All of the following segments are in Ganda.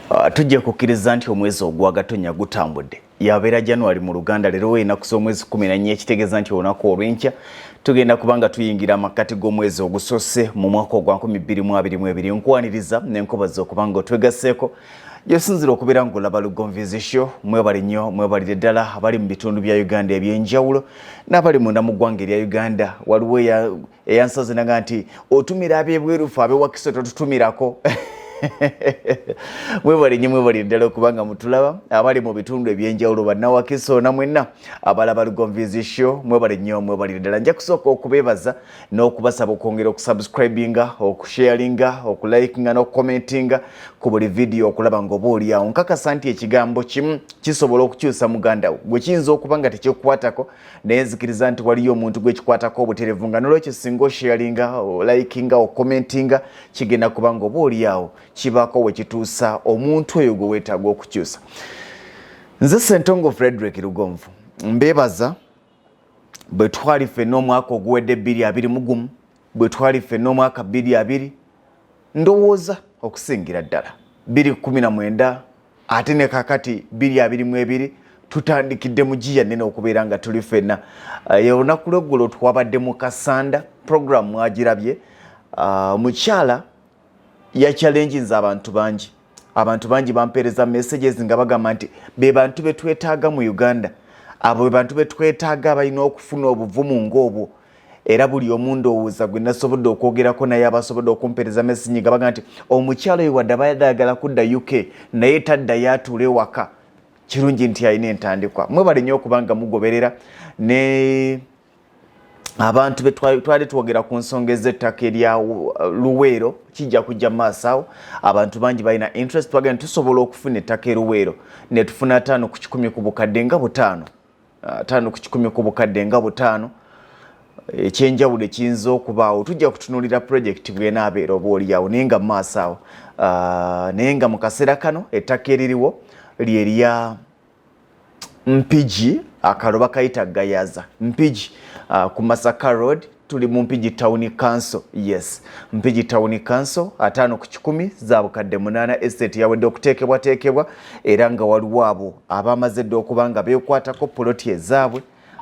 Ah, tujja kukkiriza nti omwezi ogwa gatonya gutambudde yabeera january mu luganda leero weenaku z'omwezi 14 ekitegeeza nti olunaku olwenkya tugenda kuba nga tuyingira amakkati g'omwezi ogusoose mu mwaka ogwa 2022 nkwaniriza nenkubaza okuba nga otwegaseeko gyesinzira okubeera ngolaba lugonvizi sho mwebale nnyo mwebalire ddala abali mu bitundu bya uganda ebyenjawulo n'abali munda mu ggwanga erya uganda waliwo eyansazinanga nti otumira abebwerufu abewakiso totutumirako mwebale nnyo mwebalire ddala okubanga mutulaba abali mu bitundu ebyenjawulo bannawakiso na mwenna abalaba lugonvizi sho mwebale nnyo mwebalire ddala nja kusooka okubeebaza n'okubasaba okwongera okusubscribinga okusharinga okulikinga n'okukomentinga ku buli vidiyo okulaba nga oba oliawo nkakasa nti ekigambo kimu kisobola okukyusa muganda wo gwe kiyinza okuba nga tekikukwatako naye nzikiriza nti waliyo omuntu gwekikwatako obuterevu nga nolwekyo singa osharinga olikinga okukomentinga kigenda kuba nga oba oliawo kibaako wekituusa omuntu oyo gwe weetaaga okukyusa nze sentongo frederick lugonvu mbebaza bwe twali ffenna omwaka oguwedde bbiri abiri mu gumu bwe twali ffenna omwaka bbiri abiri ndowooza okusingira ddala bbiri kumi na mwenda ate ne kakati bbiri abiri mu ebiri tutandikidde mu giya nene okubeera nga tuli ffenna eh, olunaku lweggulo twabadde mu kasanda programu mwagirabye ah, omukyala yakyalenjinza abantu bangi abantu bangi bampeereza messages nga bagamba nti be bantu be twetaaga mu uganda abo be bantu be twetaaga abalina okufuna obuvumu ng'obwo era buli omu ndowooza gwe nasobodde okwogerako naye abasobodde okumpeereza message nga bagamba nti omukyalo oyo wadde abayadde ayagala kudda uk naye taddayo atuula ewaka kirungi nti alina entandikwa mwe balinyo okubanga mugoberera ne abantu betwali twogera ku nsonga ez'ettaka erya uh, luweero kijja kujja maaso awo abantu bangi balina interest twagera nti tusobola okufuna ettaka eruweero netufuna ataano ku kikumi ku bukadde nga butaano uh, ataano ku kikumi ku bukadde nga butaano ekyenjawulo ekiyinza okubaawo tujja kutunulira projekiti bwenaabeera oba oliyawo naye nga maaso awo uh, naye nga mu kaseera kano ettaka eririwo lyerya mpigi akalo bakayita gayaza mpigi uh, ku masaka road tuli mu mpigi town council yes mpigi town council ataano ku kikumi za bukadde munaana estate yawedde okuteekebwateekebwa era nga waliwo abo abaamaze dda okuba nga beekwatako poloti ezaabwe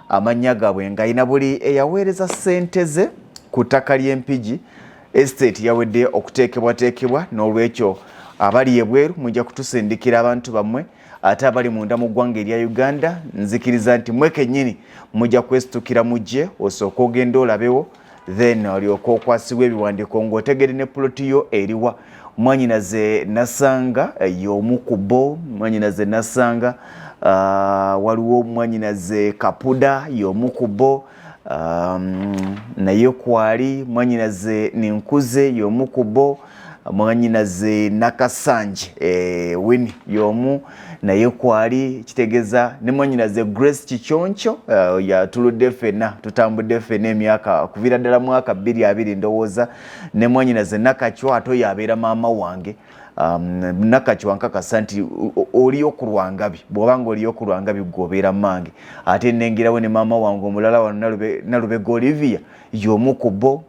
amannya gaabwe ng'alina buli eyaweereza ssente ze ku ttaka ly'empigi estate yawedde okuteekebwateekebwa n'olwekyo abali ebweru mujja kutusindikira abantu bammwe ate abali munda mu ggwanga erya uganda nzikiriza nti mwe kennyini mujja kwesitukira mujje osooka ogenda olabewo then olyoka okwasibwa ebiwandiiko ng'otegede ne puloti yo eriwa mwanyinaze nasanga eh, y'omu ku bo mwanyinaze nasanga ah, waliwo mwanyinaze kapuda y'omu ku bo naye kwali mwanyinaze ninkuze y'omu ku bo mwanyinaze nakasanje e, wini yomu naye kwali kitegeza ne mwanyinaze grace kiconco uh, eh, yatuludde fena tutambudde fena emyaka kuvira ddala mwaka bbiri abiri ndowooza ne mwanyinaze nakacwa ate oyo abeera maama wange um, nakacwa nkakasa nti oliyo ku lwangabi bwoba nga oliyo ku lwangabi gwobeera mange ate nengerawo ne maama wange omulala wano nalubega olivia yomu ku bo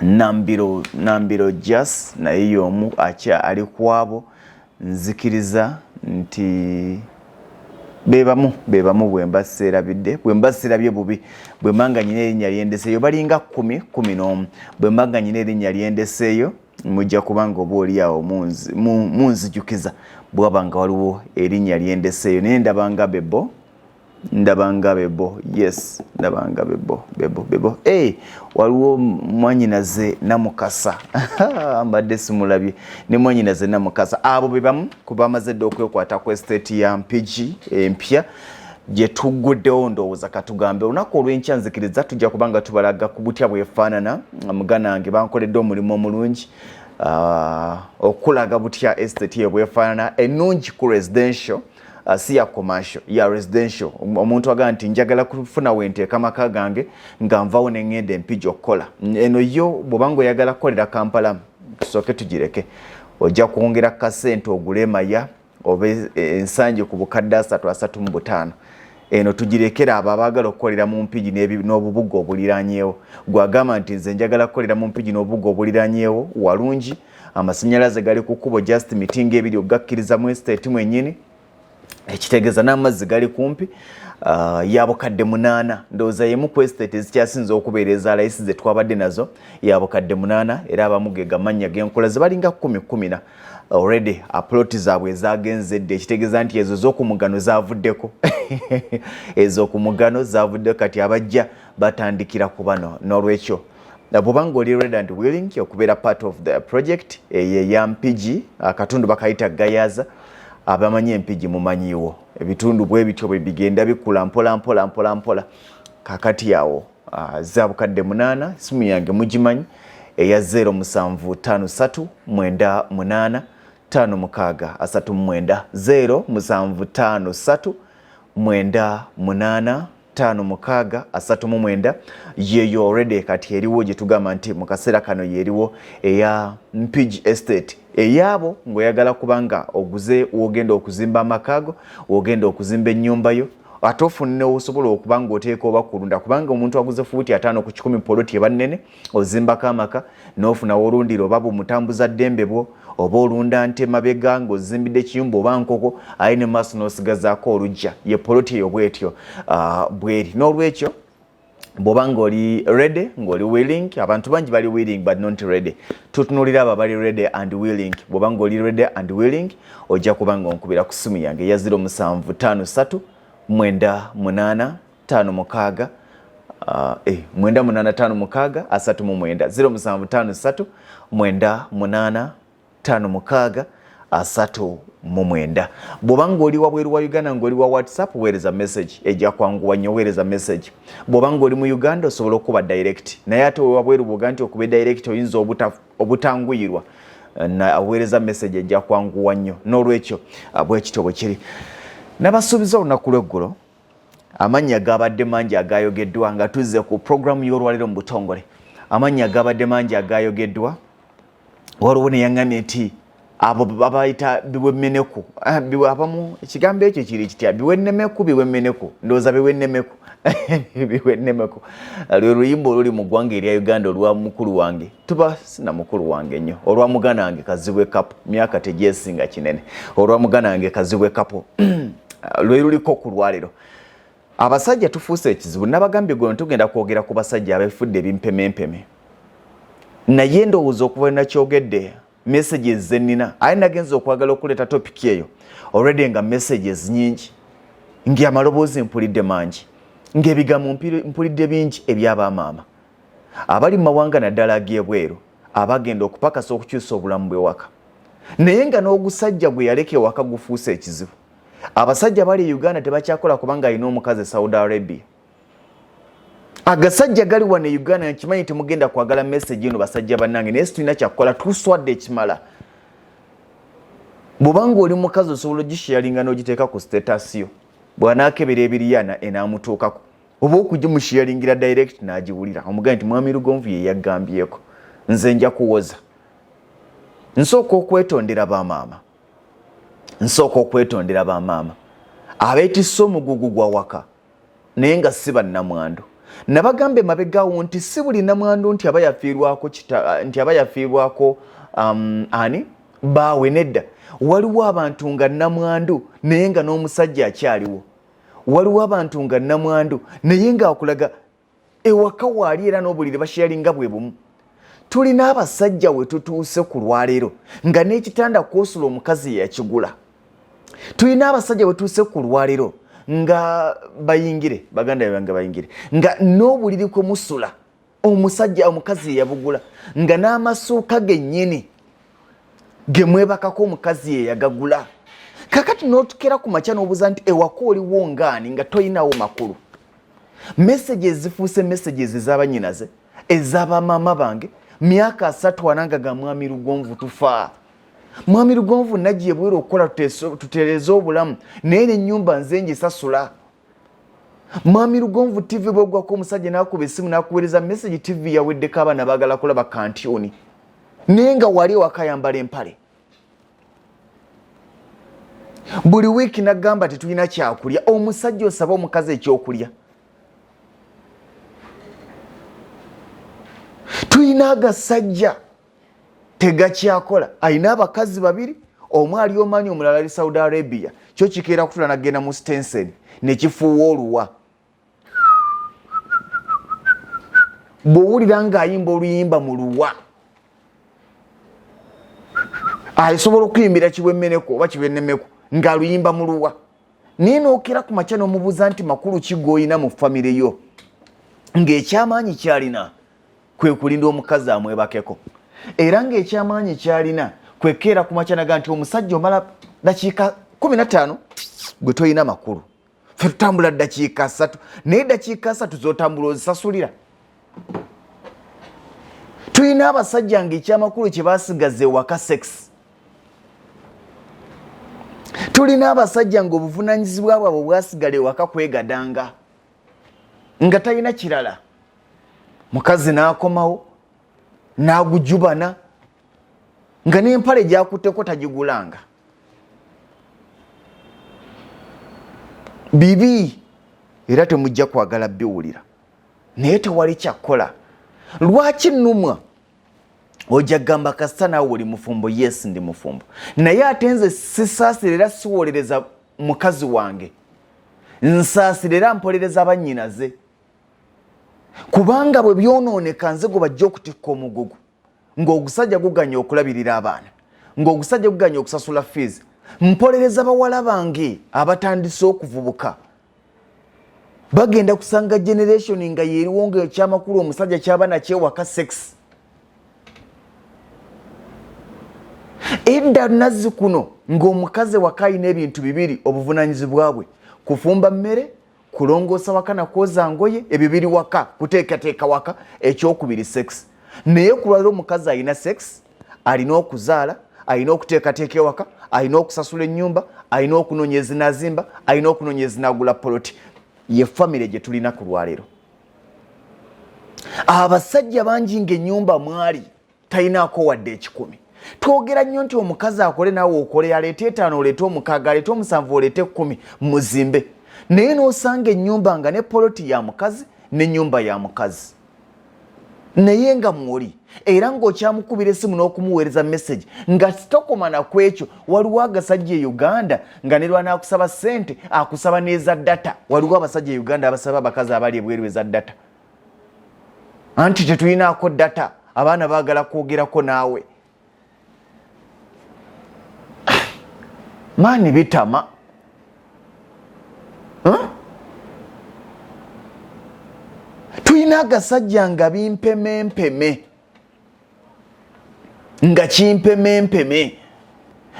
nambiro nambiro jas naye yomu akya ali kwabo nzikiriza nti bebamu bebamu bwemba serabidde bwemba serabye bubi bwemba nga nyina erinya lyendeseyo balinga kumi kumi n'omu bwemba nga nyina erinya lyendeseyo mujja kubanga oba oli awo munzijukiza bwaba nga waliwo erinya lyendeseyo naye ndabanga bebo ndabanga bebo yes ndabanga bebo bebo bebo hey, waliwo mwanyinaze namukasa mbadde simulabye ne mwanyinaze namukasa abo bebamu kubamaze dde okwekwata ku estate ya mpigi empya gyetuguddewo ndowooza katugambe olunaku olwenkya nzikiriza tujja kubanga tubalaga ku butya bwefaanana muganange bankoledde omulimu omulungi uh, okulaga butya estate ebwefaanana enungi ku residential Uh, si ya commercial ya residential um, omuntu agamba nti njagala kufuna wenteeka maka gange nga nvawo neŋŋenda empija okukola eno yo bwobanga oyagala kukolera kampala tusooke tugireke ojja kwongera kasente ogule emaya oba e, ensangi ku bukadde asatu asatu mu butaano eno tugirekera abo abaagala okukolera mu mpigi n'obubuga obuliranyeewo gwagamba nti nze njagala kukolera mu mpigi n'obubuga obuliranyeewo walungi amasanyalaze gali ku kkubo just mitingo ebiri okugakkiriza mu estate mwenyini ekitegeeza n'amazzi gali kumpi uh, ya bukadde munaana ndowooza yemu ku estate ezikyasinza okubeera eza layisi ze twabadde nazo ya bukadde munaana era abamu ge gamannya g'enkola ze balinga kumi kumina already aploti zaabwe ezagenze dde ekitegeeza nti ezo z'okumugano zavuddeko ez'okumugano zavuddeko kati abajja batandikira ku bano n'olwekyo bwoba nga oli red and willing okubeera part of the project eyo eya mpigi akatundu bakayita gayaza abamanyi empigi mumanyiwo ebitundu bwe bityo bwe bigenda bikula mpola mpola mpola mpola kakati awo ah, za bukadde munaana simu yange mugimanyi eya 0 musanvu tano satu mwenda munaana tano mukaaga asatu mwenda 0 musanvu tano satu mwenda munaana ttaano mukaaga asatu mu mwenda yeeyo already kati eriwo gye tugamba nti mu kaseera kano yeeriwo eya mpigi estate eyaabo ng'oyagala kubanga oguze wogenda okuzimba amakaago wogenda okuzimba ennyumba yo ate ofunne osobola okuba ng'oteeka oba kulunda kubanga omuntu aguze fuuti ataano ku kikumi poloti eba nnene ozimbako amaka n'ofuna wolundira oba bumutambuza ddembe bwo oba olunda nte mabega ng'ozimbidde ekiyumba oba nkoko aye ne maaso n'osigazaako olujja ye poloti eyo bwetyo ah, bweri n'olwekyo bwoba ng'oli ready ng'oli willing abantu bangi bali willing but not ready tutunulira abo abali ready and willing bwoba ng'oli ready and willing ojja kuba ng'onkubira ku simu yange eya 0 musanvu 5 3 mwenda munaana tano mukaaga Uh, eh, mwenda munana tano mukaaga asatu mu mwenda zero musanvu tano satu mwenda munana tano mukaaga asatu mu mwenda bwoba ng'oli wabweru wa uganda ng'oli wa whatsapp weereza message ejja kwanguwa nnyo weereza message bwoba ng'oli mu uganda osobola okukuba direct naye ate wewabweru bwoga nti okuba direct oyinza obutanguyirwa aweereza message ejja kwanguwa nnyo n'olwekyo ah, bwekityo bwe kiri nabasuubiza olunaku lweggulo amannya gaabadde mangi agaayogeddwa nga tuzze ku pulogulaamu y'olwaleero mu butongole amannya gaabadde mangi agaayogeddwa waliwo neyaŋŋamye nti abo babayita biwemeneku ah, abamu ekigambo ekyo kiri kitya biwenemeku biwemeneku ndowooza biwenemeku biwenemeku lwe luyimba oluli mu ggwanga erya uganda olwa mukulu wange tuba sina mukulu wange nnyo olwa mugana wange kazibwe kapo myaka tegyesinga kinene olwa mugana wange kazibwe kapo uh, lweluliko ku lwalero abasajja tufuuse ekizibu nabagambye gwe tugenda kwogera ku basajja abefudde ebimpemempeme naye ndowooza okuva nakyogedde messages zenina aye nagenza okwagala okuleeta topiki eyo already nga messages nyingi ngaamaloboozi mpulidde mangi ngaebigambo mpulidde bingi ebyabamaama abali mu mawanga naddala ag'ebweru abagenda okupakasa okukyusa obulamu bw'ewaka naye nga n'ogusajja gwe yaleka ewaka gufuuse ekizibu abasajja bali e uganda tebakyakola kubanga alina omukazi e saudi arabia agasajja gali wano e uganda nkimanyi temugenda kwagala message eno basajja bannange naye situlina kyakukola tuswadde ekimala bwobanga oli mukazi osobola ogisharinga n'ogiteeka ku status yo bw'anaakebera ebiriyana enaamutuukako oba okugimushiyalingira direct nagiwulira omugaye nti mwami lugonvu yeyagambyeko nze nja kuwoza nsooka okwetondera bamaama nsooka okwetondera bamaama abeetisse omugugu gwa waka naye nga si bannamwandu nabagamba emabegawo nti si buli namwandu nti aba yafiirwako nti aba yafiirwako um, ani baawe nedda waliwo abantu nga namwandu naye nga n'omusajja akyaliwo waliwo abantu nga namwandu naye ngaakulaga ewaka waali era n'obuliri basheyalinga bwe bumu tulina abasajja we tutuuse ku lwaleero nga n'ekitanda kwosula omukazi yakigula tulina abasajja we tuuse ku lwaleero nga bayingire baganda bange bayingire nga n'obuliri kwe musula omusajja omukazi yeyabugula nga n'amasuuka gennyini gemwebakako omukazi yeyagagula kakati notukera ku makya nobuuza nti ewaka oliwo ngaani nga tolinawo makulu meseji ezifuuse meseji ezezabanyinaze ezabamaama bange myaka asatu ananga ga mwami lugonvu tufaa mwami lugonvu nagiye bwera okukola tutereze obulamu naye nenyumba nze ngisasula mwami lugonvu tv bwegwako omusajja nakuba esimu nakuwereza message tv yaweddeko abaana bagala kulaba kantioni naye nga wali ewakayambala empale buli wiiki nagamba tetulina kyakulya omusajja osaba omukazi ekyokulya tulina agasajja tegakyakola alina abakazi babiri omu ali omanyi omulala ali saudi arabia kyo kikeera kutula nagenda mu stensen nekifuuwa oluwa bwowulira ngaayimba oluyimba mu luwa asobola okuyimbira kibwemeneko oba kibwenemeko ngaaluyimba mu luwa naye nokera ku makya nomubuuza nti makulu kigoyina mu famireyo ngaekyamaanyi kyalina kwe kulinda omukazi amwebakeko era ng'ekyamaanyi kyalina kwekeera ku makya naga nti omusajja omala dakiika kumi na ttaano gwe tolina makulu fe tutambula dakiika satu naye dakiika satu zotambula ozisasulira tulina abasajja nga ekyamakulu kye basigaza ewaka sex tulina abasajja nga obuvunanyizibwa bwabwe bwasigala ewaka kwegadanga nga talina kirala mukazi n'akomawo n'agujubana nga n'empale gyakutteko tagigulanga bibi era temujja kwagala biwulira naye tewali kyakkola lwaki numwa ojja kugamba kasita naawe oli mufumbo yes ndi mufumbo naye ate nze sisaasira era siwolereza mukazi wange nsaasira era mpolereza bannyinaze kubanga bwe byonooneka nze gwe bajja okutikka omugugu ng'ogusajja guganya okulabirira abaana ng'ogusajja guganya okusasula fiizi mpolereza bawala bange abatandise okuvubuka bagenda kusanga generation nga yeriwo nga ekyamakulu omusajja kyaba nakyewaka sex edda nazzi kuno ng'omukazi waka alina ebintu bibiri obuvunanyizibwa bwe kufumba mmere kulongoosa waka na kwoza ngoye ebyo biri waka kuteekateeka waka ekyokubiri sex naye kulwalira omukazi alina sex alina okuzaala alina okuteekateeka ewaka alina okusasula ennyumba alina okunoonya ezinazimba alina okunoonya ezinagula poloti ye famire gye tulina ku lwaleero abasajja bangi ngaenyumba mwali talinaako wadde ekikumi twogera nnyo nti omukazi akole naawe okole aleete etaano oleete omukaaga aleete omusanvu oleete ekkumi muzimbe naye n'osanga ennyumba nga ne poloti ya mukazi n'ennyumba ya mukazi naye nga mwoli era ng'okyamukubira essimu n'okumuweereza message nga sitokomana ku ekyo waliwo agasajja e uganda nga ne lwana akusaba ssente akusaba n'eza data waliwo abasajja e uganda abasaba abakazi abali ebweru eza data anti tetulinaako data abaana bagala kwogerako naawe maani bitama tulina agasajja nga bimpemempeme nga kimpemempeme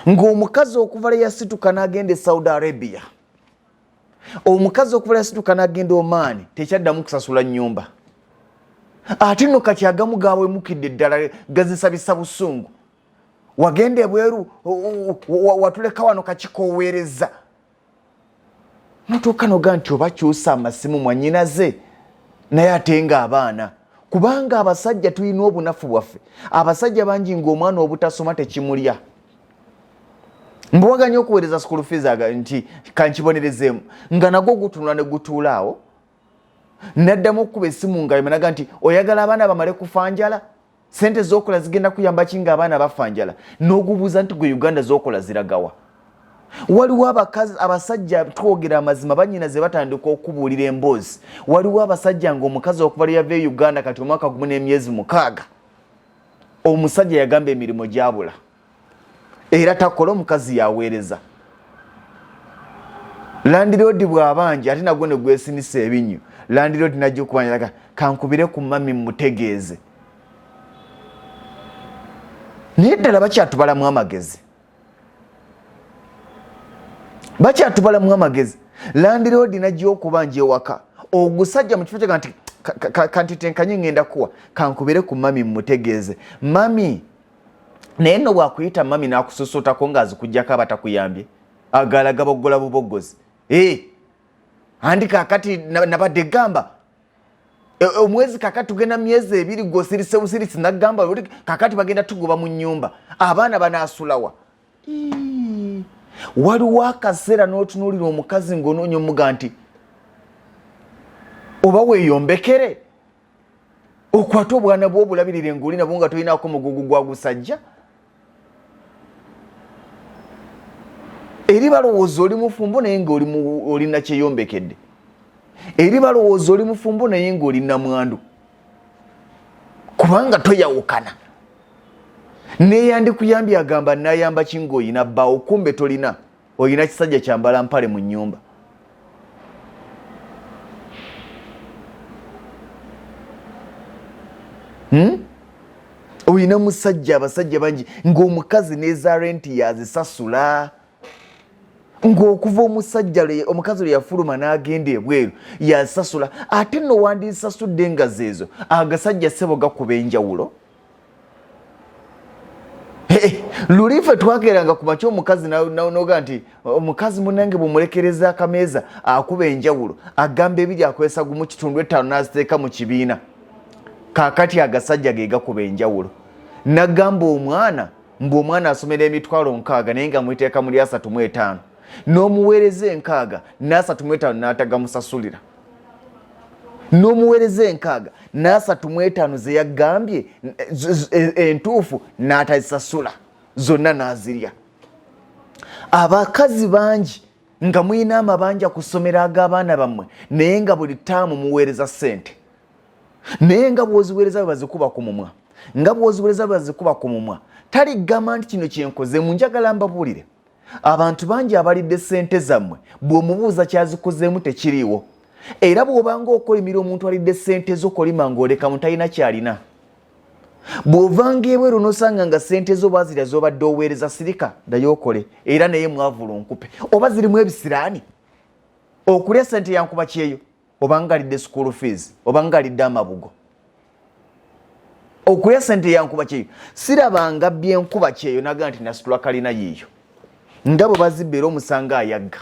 ngaomukazi okuva leyasituka nagenda e saudi arabia omukazi okubala yasituka nagenda omaani tekyaddamu kusasula nyumba ate no kati agamu gawemukidde ddala gazisabisa busungu wagenda ebweru watuleka wano kakikoweereza notuuka noga nti oba kyusa amasimu mwanyinaze naye ate nga abaana kubanga abasajja tulina obunafu bwaffe abasajja bangi ngaomwana obutasoma tekimulya mbuwaga nyo okuweereza school fees aga nti kankibonerezeemu nga nagwo gutunula ne gutuula awo naddamu okukuba esimu nga emanaga nti oyagala abaana bamale kufa njala sente zokola zigenda kuyamba ki nga abaana bafa njala n'ogubuuza nti gwe uganda zokola ziragawa waliwo abakazi abasajja twogera amazima banyina ze batandika okubuulira emboozi waliwo abasajja ngaomukazi okuva leyava e uganda kati omwaka gumu n'emyezi mukaaga omusajja yagamba emirimu gyabula era takola omukazi yaweereza landiroodi bwabanja ate nagwo ne gwesinisa ebinyo landiroodi najja okubanja kankubire ku mami mutegeeze naye ddala bakyatubalamu amagezi bakyatubalamu amagezi landiroodi najja okubanja ewaka ogusajja mu kifo kyega nti kanti tenkanye ngenda kuwa kankubire ku mami mmutegeeze mami naye no bwakuyita mami nakususutako nga azikujjako aba takuyambye agala gabogola bubogozi e eh, andi kakati nabadde gamba E, e, omwezi kakati tugenda myezi ebiri gwosirise busiritsi nagamba oti kakati bagenda tugoba mu nyumba abaana banasulawa waliwo akaseera notunulira omukazi ngaonoonya omuga nti oba weyombekere okwate obwana bwobulabirire ngaoli nabwo nga tolinako mugugu gwagusajja eri balowooza oli mufumbo naye nga oli nakyeyombekedde eri balowooza oli mufumbo naye nga oli namwandu kubanga toyawukana neyandikuyambye agamba nayamba kinga oyina bbawo kumbe tolina olina kisajja kyambala mpale mu nyumba hmm? olina musajja abasajja bangi ngaomukazi neza renti yazisasula ngaokuva omusajja omukazi lwe yafuluma n'agenda ebweru yazisasula ate nowandisasudde nga zeezo agasajja sebo gakuba enjawulo luli ife twageranga ku makya omukazi noga nti omukazi munange bumulekereza akameeza akuba enjawulo agamba ebiri akozesa gumu kitundu ettaano naziteeka mu kibiina kakati agasajja ge gakuba enjawulo nagamba omwana mbu omwana asomera emitwalo nkaaga naye nga mwiteeka muli asatu mu etaano n'omuweereza enkaaga n'asatu mu etaano n'atagamusasulira n'omuweereza enkaaga n'asatu mu etaano ze yagambye e, entuufu n'atazisasula zonna n'azirya abakazi bangi nga mulina amabanja ku ssomero ag'abaana bammwe naye nga buli taamu muweereza ssente naye nga bwoziweereza bwebazikuba ku mumwa nga bwoziweereza bwebazikuba ku mumwa taligamba nti kino kyenkoze mu njagala mbabuulire abantu bangi abalidde ssente zammwe bw'omubuuza kyazikozeemu tekiriiwo era bw'obanga okolimira omuntu alidde ssente zo kolima ng'oleka mu talina kyalina bw'ovanga ebweru n'osanga nga ssente zo bazirya z'obadde oweereza sirika ddayo okole era naye mwavulu nkupe oba zirimu ebisiraani okulya ssente yankuba kyeyo oba ngalidde school fees oba ngalidde amabugo okuya sente yankuba kyeyo sirabanga byenkuba kyeyo naga nti nasitula kalina yiyo nga bwe bazibba era omusanga ayagga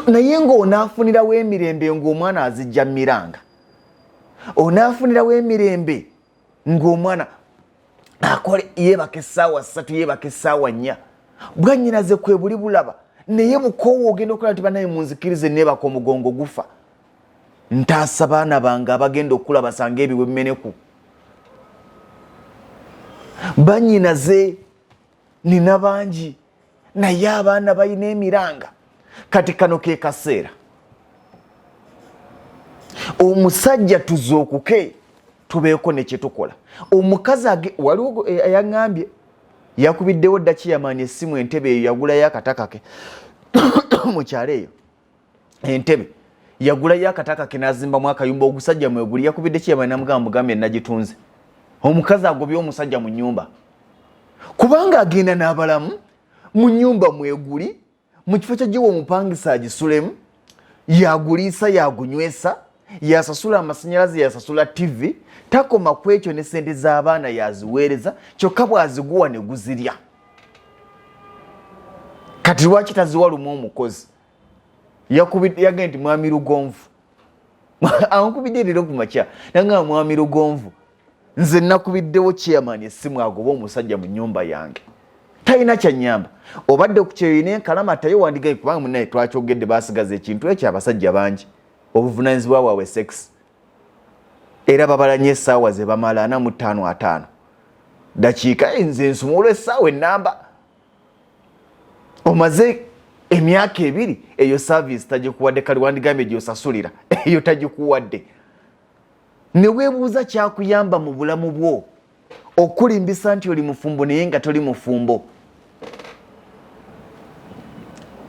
naye ngaonaafunirawo emirembe ngaomwana azijja miranga onaafunirawo emirembe ng'omwana akole yeebaka essaawa ssatu yeebaka essaawa nnya bwanyinaze kwe buli bulaba naye bukoowa ogenda okulaba nti banaye munzikirize neebaka omugongo gufa ntaasa baana bange abagenda okukula basanga ebiwemeneku banyinaze nina bangi naye abaana balina emiranga kati kano ke kaseera omusajja tuzuukuke tubeeko nekyetukola omukazi waliwo eh, yaŋambye yakubiddewo daki yamaani essimu entebe eyo yagulayo akatakake mukyalo eyo entebe yagulayo akataka ke n'azimbamu akayumba ogusajja mweguli yakubidde kiyama namugamba mugambye nagitunze omukazi agobye omusajja mu nyumba kubanga agenda n'abalamu mu nyumba mweguli mu kifo kyagiwa omupangisa agisulemu yaguliisa yagunywesa yasasula amasanyalaze yasasula tivi takoma ku ekyo ne sente z'abaana yaziweereza kyokka bwaziguwa ne guzirya kati lwaki taziwa lumu omukozi yagee nti mwami lugonvu ankubidde leero ku makya nagamba mwami lugonvu nze nakubiddewo chairman essimu agoba omusajja mu nyumba yange talina kyanyamba obadde kukyeyoine enkalama tayo wandigae kubanga munaye twakyogedde basigaza ekintu ekyo abasajja bangi obuvunanyizibwa bwabwe sex era babala nyo esaawa zebamala ana mu ttaano ataano dakiika enze nsumulwa esaawa enamba omaze emyaka ebiri eyo service tagikuwadde kali wandigambye gyosasulira eyo tagikuwadde newebuuza kyakuyamba mu bulamu bwo okulimbisa nti oli mufumbo naye nga toli mufumbo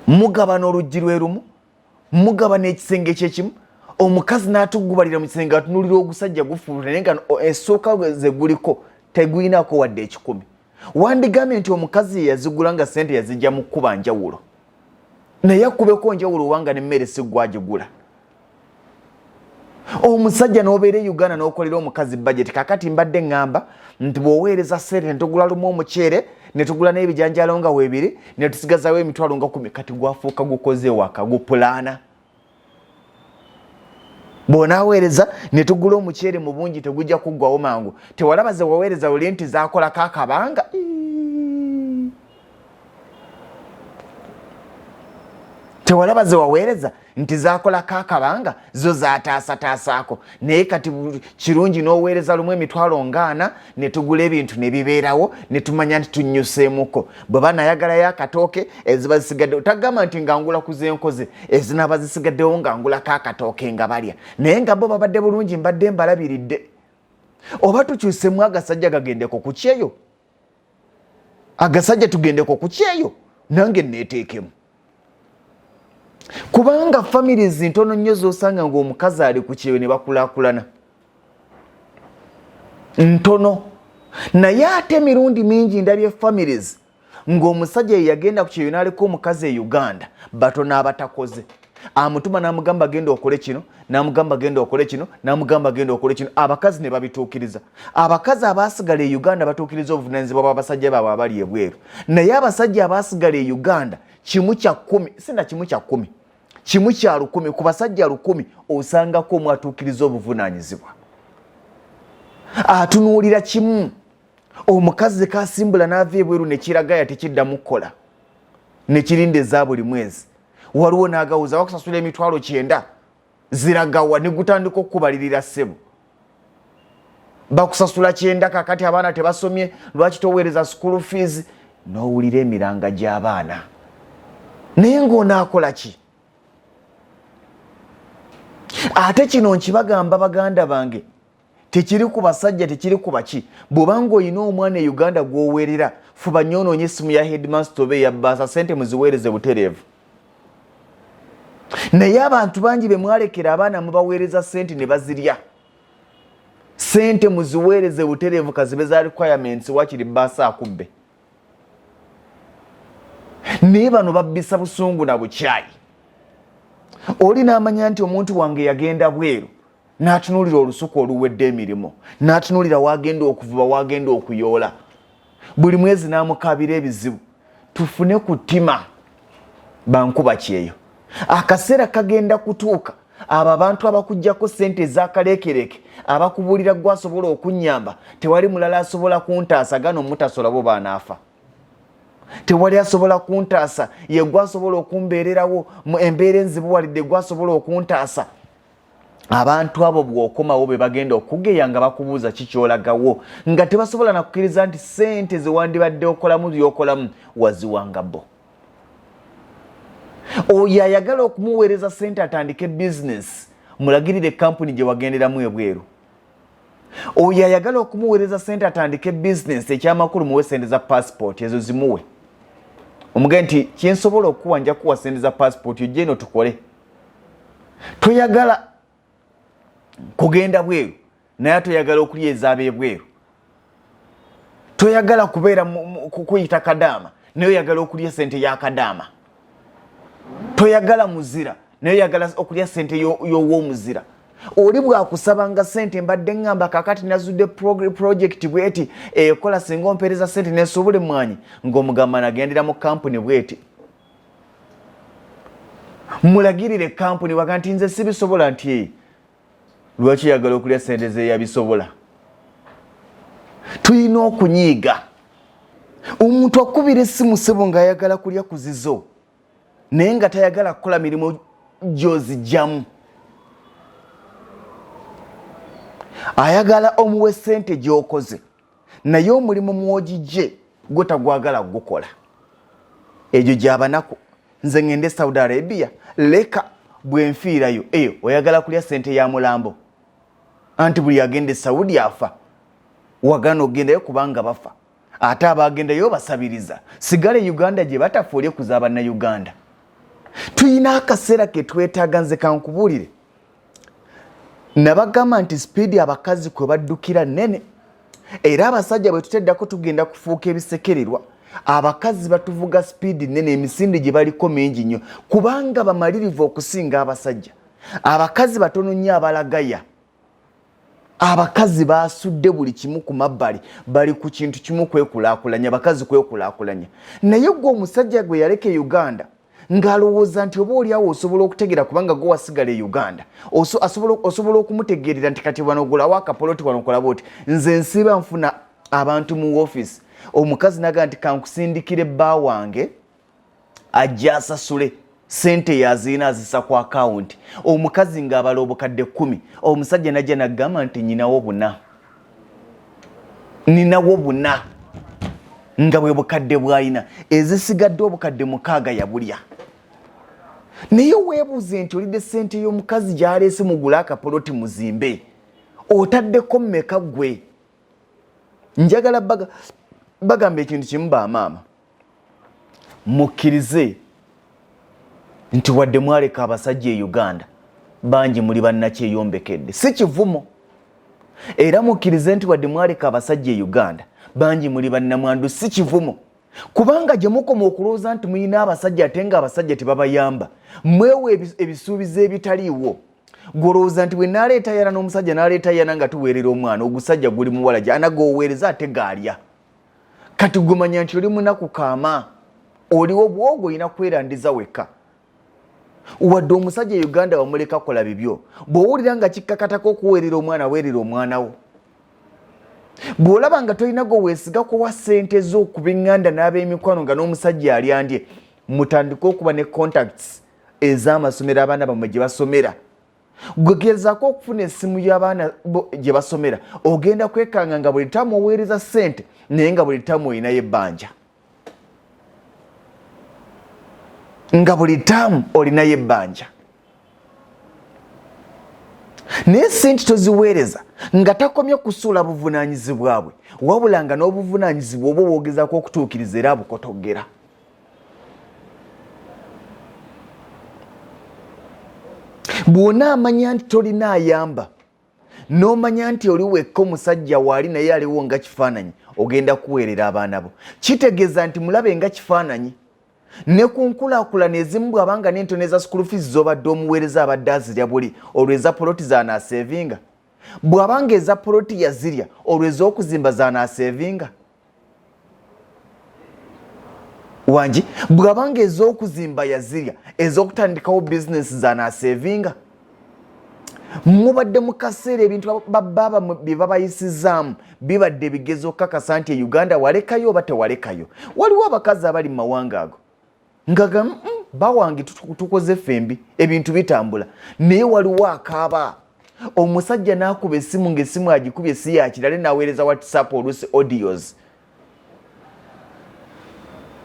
mugabana oluggi lwerumu mugabana ekisenge kyekimu omukazi n'atuggubalira mu kisenge atunulira ogusajja gufuula naye nga essuuka eh, ze guliko tegulinaako wadde ekikumi wandigambye nti omukazi ye yazigula nga sente yazijja mu kkuba njawulo naye akubeko njawulo owanga nemmere siggwagigula omusajja nobeera e uganda nokolera omukazi budget kakati mbadde ngamba nti bwoweereza sente netugula lumu omuceere netugula n'ebijanjalo nga webiri netusigazawo emitwalo nga kumi kati gwafuuka gukoze waka gupulaana bwonaweereza netugula omuceere mu bungi tegujja kuggwawo mangu tewalaba zewaweereza luli nti zakolako akabanga tewalaba zewaweereza nti zakolako akabanga zo zataasataasaako naye kati kirungi n'oweereza lumu emitwalo ngaana ne tugula ebintu ne bibeerawo ne tumanya nti tunnyuseemuko bwe banayagalayo akatooke eziba zisigaddewo tagamba nti nga ngula ku zenkoze ezinaaba zisigaddewo nga ngulako akatooke nga balya naye nga bo babadde bulungi mbadde mbalabiridde oba tukyusemu agasajja gagendeko ku kyeyo agasajja tugendeko ku kyeyo nange neeteekemu kubanga famire zintono nnyo zosanga ngaomukazi ali ku kyeyo ne bakulakulana ntono naye ate emirundi mingi ndabye families ng'omusajja yeyagenda ku kyeyo naleka omukazi e uganda batono abatakoze amutuma namugamba genda okole kino namugamba genda okole kino namugamba genda okole kino abakazi ne babituukiriza abakazi abaasigala e uganda batuukiriza obuvunanyizibwa bwabasajja baabwe abali ebweru naye abasajja abaasigala e uganda kimu kya kumi sina kimu kya kumi kimu kya lukumi ku basajja lukumi osangako omu atuukiriza obuvunanyizibwa atunuulira kimu omukazi zekasimbula n'ava ebweru nekiragaya tekiddamu kukola nekirinda eza buli mwezi waliwo nagawuza wakusasula emitwalo kyenda ziragawa negutandika okukubalirira ssebo bakusasula kyenda kakati abaana tebasomye lwaki toweereza school fees nowulira emiranga gy'abaana naye ngaonaakola ki ate kino nkibagamba baganda bange tekiri ku basajja tekiri ku baki bwobanga olina omwana e uganda gwowerera fuba nyo onoonye essimu ya headmaster oba eyabbaasa sente muziweereze butereevu naye abantu bangi be mwalekera abaana mubaweereza sente ne bazirya sente muziweereze butereevu kazibe za requirements wakiri bbaasa akubbe naye bano babbisa busungu na bukyayi oli n'amanya nti omuntu wange yagenda bweru n'atunuulira olusuku oluwedde emirimu n'atunuulira wagenda okuvuba wagenda okuyoola buli mwezi n'amukaabira ebizibu tufune ku ttima bankuba kyeyo akaseera kagenda kutuuka abo abantu abakujjako sente ezakaleekereke abakubuulira gwe asobola okunnyamba tewali mulala asobola kuntaasa gano mutasola bo baanaafa tewali asobola kuntaasa ye gwe asobola okumbeererawo embeera enzibuwalidde gwe asobola okuntaasa abantu abo bwokomawo be bagenda okugeya nga bakubuuza kikyolagawo nga tebasobola nakukkiriza nti sente zewandibadde okolamu byokolamu waziwanga bo oyo ayagala okumuweereza sente atandike bizinesi mulagirire kampuni gye wagenderamu ebweru oyo ayagala okumuweereza sente atandike bizinesi ekyamakulu muwe sente za pasipooti ezo zimuwe omuge nti kyensobola okuwa nja kuwa sente za pasipooti ojje eno tukole toyagala kugenda bweru naye toyagala okulya ezaaba ebweru toyagala kubeera kukuyita kadaama naye oyagala okulya sente ya kadaama toyagala muzira naye oyagala okulya sente y'owomuzira oli bwakusabanga sente mbadde ngamba kakati nazudde projekiti bweti ekola singa ompereza sente nesobole mwanyi ngaomugamba nagendera mu kampuni bweti mulagirire kampuni waga nti nze sibisobola nti eh, lwaki yagala okulya sente zeyabisobola tulina okunyiiga omuntu akubira esimu sebo ngaayagala kulya kuzizo naye nga tayagala kukola mirimu gyozijjamu ayagala omuwe sente gyokoze naye omulimu mwogijje gwe tagwagala gukola egyo gyabanaku nze ngende saudi arabia leka bwenfiirayo eyo oyagala kulya sente ya mulambo anti buli agenda esaudi afa wagana ogendayo kubanga bafa ate abagendayo basabiriza sigala e uganda gye batafa oli ekuza abannauganda tulina akaseera ketwetaaga nze kankubuulire nabagamba nti sipiidi abakazi kwe baddukira nnene era abasajja bwe tuteddako tugenda kufuuka ebisekererwa abakazi batuvuga sipiidi nnene emisinde gye baliko mingi nnyo kubanga bamalirivu okusinga abasajja abakazi batono nnyo abalagaya abakazi basudde buli kimu ku mabbali bali ku kintu kimu kwekulakulanya abakazi kwekulakulanya naye gwe omusajja gwe yaleka e uganda ng'alowooza nti oba oliawo osobola okutegeera kubanga gwe wasigala e uganda osobola okumutegeerera nti kati wanogulawo akapoloti wanokolaba oti nze nsiba nfuna abantu mu wofiisi omukazi naga nti kankusindikire bba wange ajja asasule sente yaziina azisa ku akawunti omukazi ng'abala obukadde kkumi omusajja najja nagamba nti nyinawo buna ninawo buna nga bwe bukadde bwalina ezisigadde obukadde mukaaga yabulya naye weebuuze nti olidde sente y'omukazi gyaleese mugule akapoloti muzimbe otaddeko mmeka ggwe njagala bagamba ekintu kimu bamaama mukkirize nti wadde mwaleka abasajja e uganda bangi muli bannakyeyombekedde si kivumo era mukkirize nti wadde mwaleka abasajja e uganda bangi muli bannamwandu si kivumo kubanga gye mukoma okulowooza nti mulina abasajja ate nga abasajja tebabayamba mwewa ebisuubizo ebitaliiwo gwolowooza nti bwe naleeta yana n'omusajja naleeta yana nga tuweerera omwana ogusajja guli muwala gye anagooweereza ate gaalya kati gumanya nti oli munaku kaama oliwo bwogo olina kwerandiza wekka wadde omusajja e uganda wamuleka kola bibyo bwowulira nga kikkakatako okuweerera omwana weerera omwana wo bw'olaba nga tolina gwe weesiga kuwa ssente z'okuba eŋŋanda n'ab'emikwano nga n'omusajja alyandye mutandike okuba ne contacts ez'amasomero abaana bammwe gye basomera gwegezako okufuna esimu yabaana gyebasomera ogenda kwekanga nga buli tamu oweereza sente naye nga buli tamu olinayo ebbanja nga buli tamu olinayo ebbanja naye sente toziweereza nga takomye kusuula buvunanyizibwabwe wabula nga n'obuvunanyizibwa oba obwogezako okutuukiriza era abukotoggera bwona amanya nti tolina ayamba nomanya nti oli wekka omusajja waali naye aliwo nga kifaananyi ogenda kuweerera abaana bo kitegeeza nti mulabe nga kifaananyi ne ku nkulakulana ezimu bwabanga nentono eza sukulu fees zobadde omuweereza abadde azirya buli olwo eza poloti zanasevinga bw'aba ng'eza poloti yazirya olwo ez'okuzimba zanaaseevinga wangi bw'aba ng'ez'okuzimba yazirya ez'okutandikawo bizinensi zanaaseevinga mubadde mu kaseera ebintu babaaba bye babayisizaamu bibadde bigezo okukakasa nti e uganda walekayo oba tewalekayo waliwo abakazi abali mu mawanga ago nga ga mm, bawange tukoze fembi ebintu bitambula naye waliwo akaaba omusajja nakuba esimu ngaesimu agikuba esi yakirale naweereza whatsapp olusi audios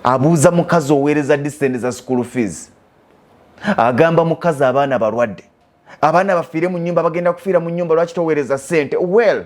abuuza mukazi oweereza disend za school fees agamba mukazi abaana balwadde abaana bafiire mu nyumba bagenda kufiira mu nyumba lwaki toweereza sente well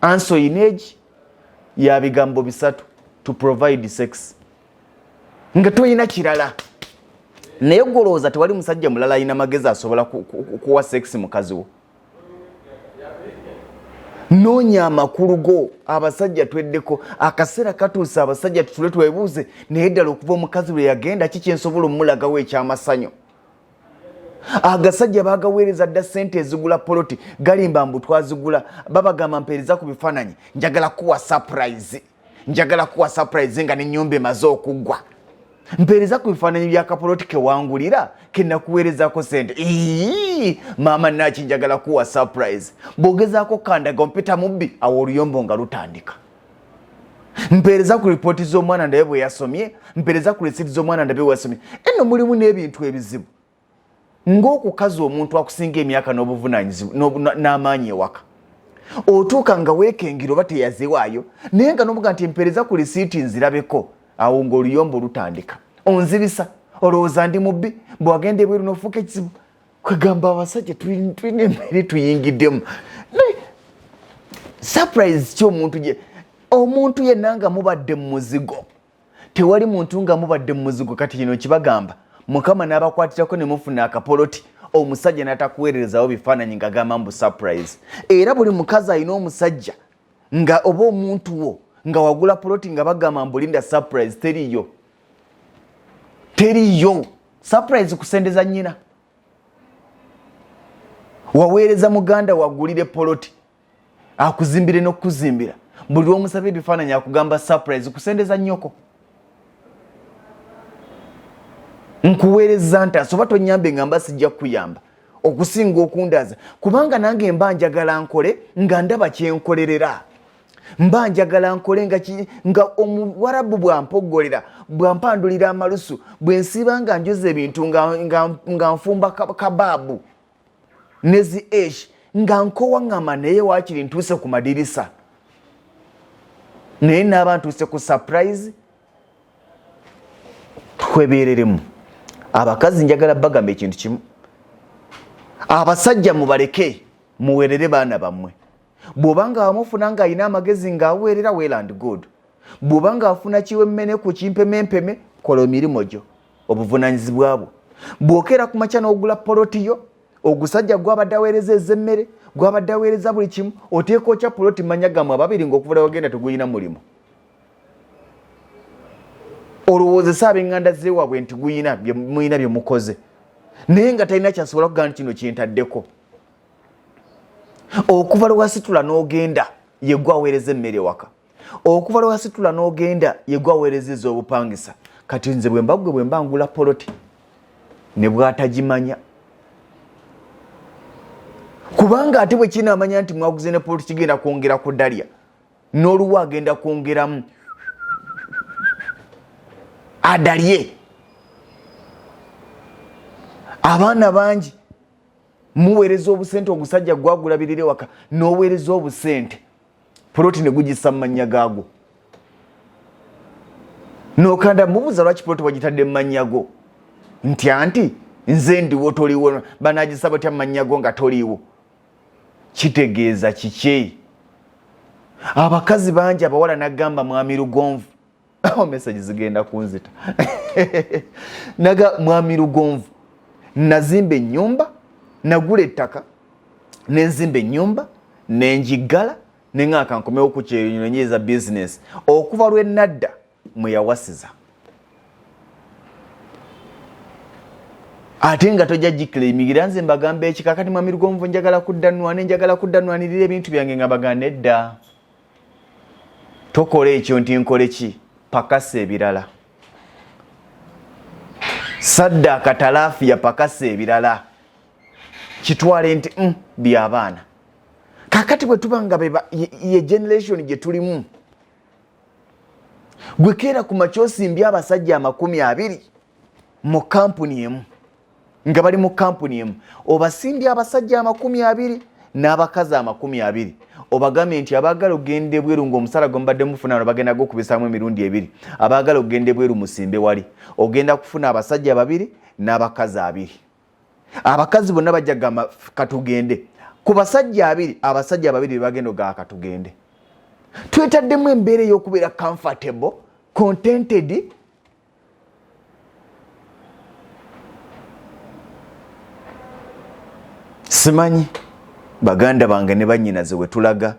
anso in age ya bigambo bisatu to provide sex nga toyina kirala naye golowooza tewali musajja mulala ayina magezi asobola kuwa sex mukazi wo noonya amakulu go abasajja tweddeko akaseera katuuse abasajja tutule twebuuze naye ddala okuva omukazi lwe yagenda ki kyensobola omulagawo ekyamasanyo agasajja bagaweereza dda sente ezigula poloti galimba mbu twazigula babagamba mpeereza ku bifaananyi njagala kuwa surprise njagala kuwa surprise nga nenyumba emaze okuggwa mpeereza ku bifaananyi byakapoloti kewangulira kenakuweerezako sente ii maama naki njagala kuwa surprise bwogezaako kandaga ompita mubbi awo oluyombo nga lutandika mpeereza ku lipooti z'omwana ndabe bwe yasomye mpeereza ku lisiiti z'omwana ndabe bwe yasomye eno mulimu n'ebintu ebizibu ng'okukaza omuntu akusinga emyaka n'obuvunanyizibwa n'amaanyi ewaka otuuka nga weekengera oba teyazewaayo naye nga nomuga nti empeereza ku lisiiti nzirabeko awo ng'oluyombo olutandika onzibisa olowooza ndi mubbi bwewagenda ebweru nofuuka ekizibu kwegamba abasajja tulina embeere tuyingiddemu surprise ki omuntu gye omuntu yenna nga mubadde mu muzigo tewali muntu nga mubadde mu muzigo kati kino kibagamba mukama n'abakwatirako ne mufuna akapoloti omusajja n'atakuweererezawo bifaananyi nga gamba mbu surprise era buli mukazi alina omusajja nga oba omuntu wo nga wagula poloti nga bagamba mbulinda surprise teriyo teriyo surprise kusendeza nyina waweereza muganda wagulire poloti akuzimbire nokukuzimbira buli lwomusaba ebifaananyi akugamba surprise kusendeza nyoko nkuweereza ntaasa oba tonyambe nga mba sijja kukuyamba okusinga okundaza kubanga nange mba njagala nkole nga ndaba kyenkolerera mba njagala nkole nga, nga omuwarabu bwampoggolera bwampandulira amalusu bwensiiba nga njoza ebintu nga, nga, nga nfumba kabaabu nezi esh nga nkowaŋŋama naye waakiri ntuuse ku madirisa naye naaba ntuuse ku surprise twebeereremu abakazi njagala bagamba ekintu kimu abasajja mubaleke muwerere baana bammwe bw'oba nga wamufuna ng'alina amagezi ng'aweerera well and good bw'oba ng'afuna kiwemmene ku kimpemempeme kola emirimu gyo obuvunanyizibwa bwo bw'okeera ku makya n'ogula poloti yo ogusajja gwabadde aweereza ez'emmere gwabadde aweereza buli kimu oteeka okya poloti manya gamwe ababiri ngaokuvula wagenda tegulina mulimu olowoozesa abenganda zewaabwe nti guyina mulina byemukoze naye nga talina kyasobola kugamba nti kino kyentaddeko okuva lwewasitula n'ogenda yegwe aweereza emmere ewaka okuva lwewasitula n'ogenda yegwe aweereza ez'obupangisa kati nze bwemba gwe bwemba ngula poloti ne bwatagimanya kubanga ate bwe kinaamanya nti mwaguze ne poloti kigenda kwongera ku dalya n'oluwa agenda kwongeramu adalye abaana bangi muweereza obusente ogusajja gwagulabirira ewaka n'oweereza obusente poloti ne gugisa mu mannya gaagwo nokanda mubuuza lwaki poloti wagitadde mu mannya go nti anti nze ndiwo toliwo banagisa batya mu mannya go nga toliiwo kitegeeza kiki abakazi bangi abawala nagamba mwami lugonvu oh, message zigenda kunzita naga mwami lugonvu nazimba ennyumba nagula ettaka nenzimba ennyumba nenjiggala nenga kankomewo ku kyeyo nenyiza bizinesi okuva lwe nadda mwe yawasiza ate nga tojja gikila emigira nze mbagamba ekikakati mwami lugonvu njagala kudda nwane njagala kudda nwanirira ebintu byange nga baganda edda tokola ekyo nti nkole ki pakasa ebirala saddaaka talaafiya pakasa ebirala kitwale nti mm, byabaana kakati bwe tuba nga ye generation gye tulimu gwekeera ku makyosimbye abasajja amakumi abiri mu kampuni emu nga bali mu kampuni emu obasimbye abasajja amakumi abiri n'abakazi amakumi abiri obagambye nti abaagala okugenda ebweru ngaomusaala gwe mubadde mufuna no bagenda gokubisaamu emirundi ebiri abaagala okugenda ebweru musimbe wali ogenda kufuna abasajja babiri n'abakazi abiri abakazi bonna bajja kugamba katugende ku basajja abiri abasajja ababiri bebagenda ogaa katugende twetaddemu embeera ey'okubeera comfortable contented simanyi baganda bange ne banyinaze wetulaga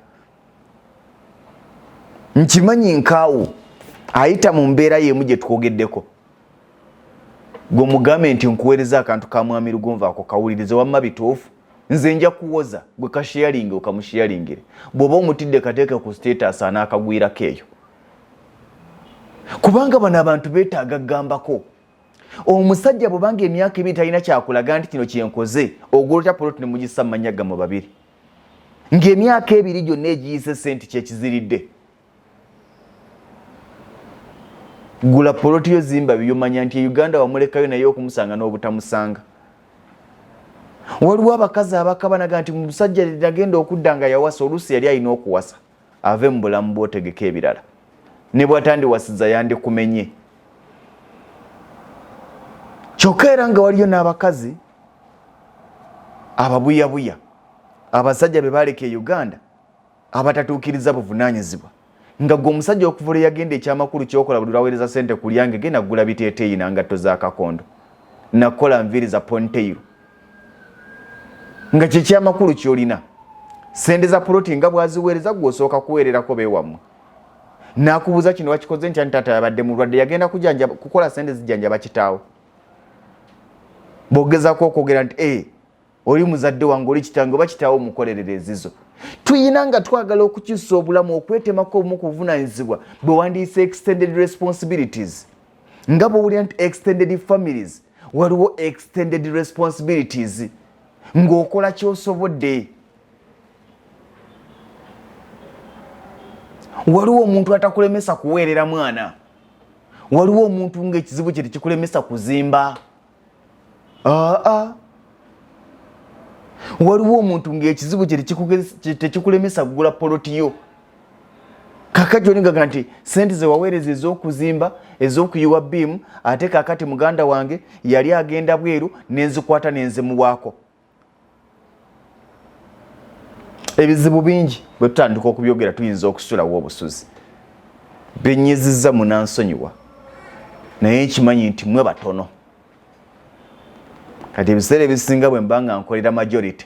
nkimanyi nkaawo ayita mu mbeera yemu gye twogeddeko gwe mugambe nti nkuweereza akantu ka mwami lugonva ako kawulirize wamma bituufu nze nja kuwoza gwe kasheyalinge okamusheyalingire bw'oba omutidde kateeke ku status anaakagwirako eyo kubanga bano abantu betaaga kugambako omusajja bwebanga emyaka ebiri talina kyakulaga nti kino kyenkoze ogolota poloti nemugisa mumanya gamu babiri ngaemyaka ebiri gyonna egiyise sente kyekiziridde gula poloti yo zimba byomanya nti e uganda wamulekayo naye okumusanga n'obutamusanga waliwo abakazi abakabanaga nti musajja nagenda okudda nga yawasa oluusi yali alina okuwasa ave mu bulamu bwotegeka ebirala ne bwatandiwasiza yandikumenye kyokka era nga waliyo n'abakazi ababuyabuya abasajja be baaleka e uganda abatatuukiriza buvunaanyizibwa nga gwe omusajja okuvula eyagenda ekyamakulu kyokola buli lwaweereza sente kulyange genda kugula biteeteeyi nangatto za kakondo nakukola nviiri za ponteiro nga kyekyamakulu kyolina sente za poloti nga bwaziweereza gwe osooka kuweererako bewammwe nakubuuza kino wakikoze ntya ntaata yabadde mulwadde yagenda kujanja kukola sente zijanja bakitaawo bogezako okwogera nti e oli muzadde wange oli kitange oba kitaawo omukolerera ezizo tuyina nga twagala okukyusa obulamu okwetemako obumu ku buvunanyizibwa bwe wandiyise extended responsibilities nga bwowulira nti extended families waliwo extended responsibilities ng'okola kyosobodde waliwo omuntu atakulemesa kuweerera mwana waliwo omuntu ngaekizibu kye tekikulemesa kuzimba aa waliwo omuntu ngaekizibu kye tekikulemesa kugula polotiyo kakati olingaga nti sente zewaweereza ez'okuzimba ez'okuyiwa biimu ate kakati muganda wange yali agenda bweru nenzikwata nenzimuwaako ebizibu bingi bwe tutandika okubyogera tuyinza okusulawo obusuzi benyiziza munansonyiwa naye nkimanyi nti mwe batono kati ebiseera ebisinga bwe mba nga nkolera majority